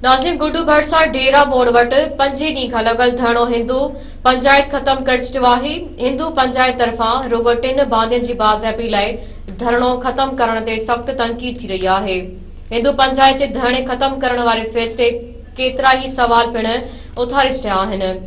ناظم گڊو ڀرسان ڍيرا موڙ وٽ پنجين ڏينهن کان لڳل ڌرڻو هندو پنجائت ختم ڪرج چيو آهي هندو پنجائت طرفان رڳو ٽن باندين جي بازيابي لاء ڌرڻو ختم ڪرڻ تي سخت تنقيد ٿي رهي آهي هندو پنجائت جي ڌرڻي ختم ڪرڻ واري فيصلي ڪيترائي سوال پڻ اٿاري ڇڏيا آهن.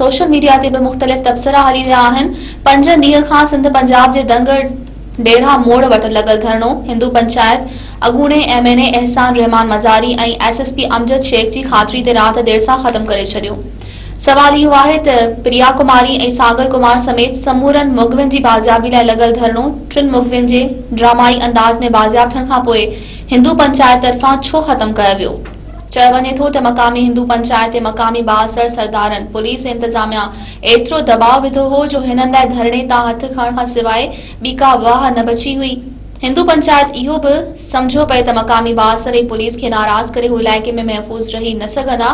سوشل ميڊيا تي به مختلف تبصرا هلي رهيا آهن، پنج ڏينهن کان سنڌ پنجاب جي دنگ ڊيرا موڙ وٽ لڳل ڌرڻو هندو پنچائت اڳوڻي M N A Ehsan ur Rehman Mazari ۽ S S P Amjad Shaikh جي خاطري تي رات دير سان ختم ڪري ڇڏيو سوال اهو آهي ته پريا ڪماري ۽ ساگر ڪمار سميت سمورن مغوين جي بازيابي لاء لڳل ڌرڻو ٽن مغوين جي ڊرامائي انداز ۾ بازياب ٿيڻ کانپوء هندو پنچائت طرفان ڇو ختم ڪيو ويو؟ چيو وڃي ٿو ته مقامي هندو پنچائت تي مقامي بااثر سردارن پوليس ۽ انتظاميا ايترو دٻاء وڌو هو جو هنن لاء ڌرڻي تان هٿ کڻڻ کان سواء ٻي ڪا واهه نه بچي هئي. هندو پنچائت اهو به سمجهيو پئي ته مقامي بااثر ۽ پوليس کي ناراض ڪري هو علائقي ۾ محفوظ رهي نه سگهندا.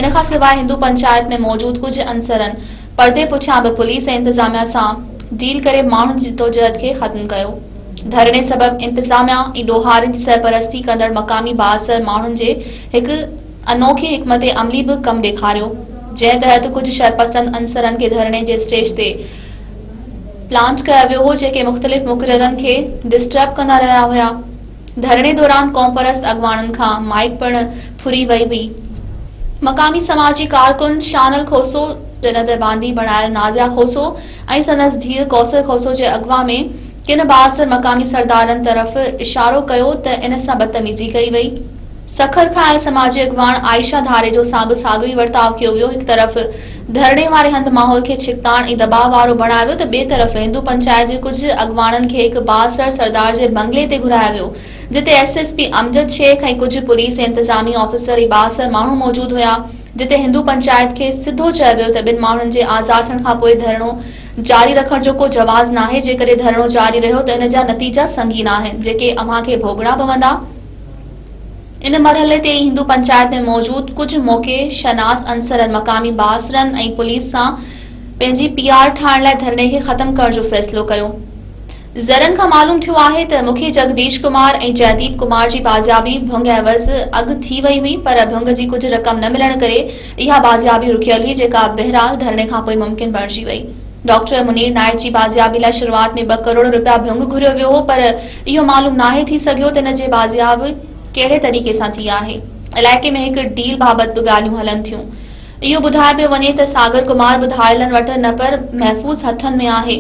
ان کان سواء هندو پنچائت ۾ موجود ڪجهه عنصرن پردي پٺيان به پوليس ۽ انتظاميا سان ڊيل ڪري ماڻهن جي جدوجهد کي ختم ڪيو. ڌرڻي سبب انتظاميا ۽ ڏوهارين جي سرپرستي ڪندڙ مقامي بااثر ماڻهن جي هڪ انوکي حڪمت عملي به ڪم ڏيکاريو جنهن تحت ڪجهه شرپسند عنصرن کي ڌرڻي جي اسٽيج تي پلانچ ڪيو ويو هو جيڪي مختلف مقررن کي ڊسٽرب ڪندا رهيا هيا ڌرڻي دوران قومپرست اڳواڻن کان مائيڪ پڻ ڦري وئي هئي مقامي سماجي ڪارڪن شانل کوسو جڏهن ته باندي بڻايل نازيا کوسو ۽ سندس ڌيء ڪوثر کوسو جي اغوا ۾ ڪن بااثر مقامي سردارن طرف اشارو ڪيو ته ان سان بدتميزي ڪئي وئي. سکر کان آيل سماجي اڳواڻ عائشه ڌاريجو سان به ساڳيو ئي ورتاء ڪيو ويو، هڪ طرف ڌرڻي واري هنڌ ماحول کي ڇڪتاڻ ۽ دٻاء وارو بڻايو ويو ته ٻئي طرف هندو پنچائت جي ڪجهه اڳواڻن کي هڪ بااثر سردار جي بنگلي تي گهرايو ويو جتي S S P Amjad Shaikh ۽ ڪجهه پوليس جي انتظامي آفيسر ۽ بااثر ماڻهو موجود هيا. جتي هندو پنچائت کي سڌو چيو ويو ته ٻن ماڻهن جي آزاد ٿيڻ کانپوء ڌرڻو جاري رکڻ جو ڪو جواز ناهي، جيڪڏهن ڌرڻو جاري رهيو ته ان جا نتيجا سنگين آهن، جيڪي اوهان کي ڀوڳڻا پوندا. ان مرحلي تي ئي هندو پنچائت ۾ موجود ڪجهه موقع شناس عنصرن مقامي بااثرن ۽ پوليس سان پنهنجي پي آر ٺاهڻ لاء ڌرڻي کي ختم ڪرڻ جو فيصلو ڪيو. ذريعن کان معلوم ٿيو آهي ته مکي جگديش ڪمار ۽ جئديپ ڪمار جي بازيابي ڀنگ عيوض اڳ ٿي وئي هئي پر ڀنگ جي ڪجهه رقم نه ملڻ ڪري اها بازيابي رڪيل هئي جيڪا بهرحال ڌرڻي کانپوء ممڪن بڻجي وئي ڊاڪٽر منير نائيڪ جي بازيابي لاء شروعات ۾ ٻه ڪروڙ رپيا ڀنگ گهريو ويو هو پر اهو معلوم ناهي ٿي سگهيو ته ان جي بازياب ڪهڙي طريقي سان ٿي آهي علائقي ۾ هڪ ڊيل بابت به ڳالهيون هلن ٿيون اهو ٻڌايو پيو وڃي ته ساگر ڪمار ٻڌايلن وٽ نه پر محفوظ هٿن ۾ آهي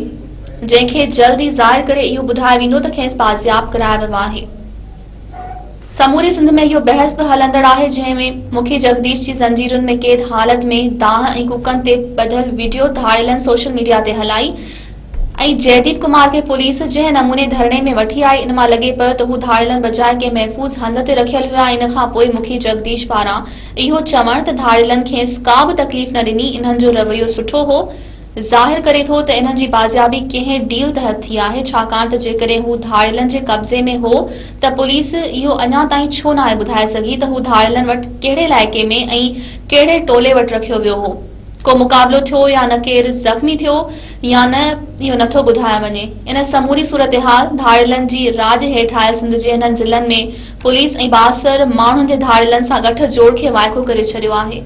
جنهن کي جلد ئي ظاهر ڪري اهو ٻڌايو ويندو ته کيس بازياب ڪرايو ويو آهي. سموري سنڌ ۾ اهو بحث به هلندڙ آهي جنهن ۾ مکي جڳديش جي زنجيرن ۾ قيد حالت ۾ دانهن ۽ ڪوڪن تي ٻڌل وڊيو ڌاڙيلن سوشل ميڊيا تي هلائي ۽ جئديپ ڪمار کي پوليس جنهن نموني ڌرڻي ۾ وٺي آئي ان مان لڳي پيو ته هو ڌاڙيلن بجاء ڪنهن محفوظ هنڌ تي رکيل هيا ۽ ان کان پوء مکي جڳديش پاران اهو چوڻ ته ڌاڙيلن کيس ڪا به تڪليف نه ڏني انهن جو رويو سٺو هو ظاهر ڪري ٿو ته انهن جي بازيابي ڪنهن ڊيل تحت ٿي آهي، ڇاڪاڻ ته جيڪڏهن هو ڌاڙيلن جي قبضي ۾ هو ته پوليس اهو اڃا تائين ڇو ناهي ٻڌائي سگهي ته هو ڌاڙيلن وٽ ڪهڙي علائقي ۾ ۽ ڪهڙي ٽولي وٽ رکيو ويو هو. ڪو مقابلو ٿيو يا نه، ڪير زخمي ٿيو يا نه، اهو نه ٿو ٻڌايو وڃي. ان سموري صورتحال ڌاڙيلن جي راڄ هيٺ آيل سنڌ جي انهن ضلعن ۾ پوليس ۽ بااثر ماڻهن جي ڌاڙيلن سان ڳٺ جوڙ کي وائکو ڪري ڇڏيو آهي.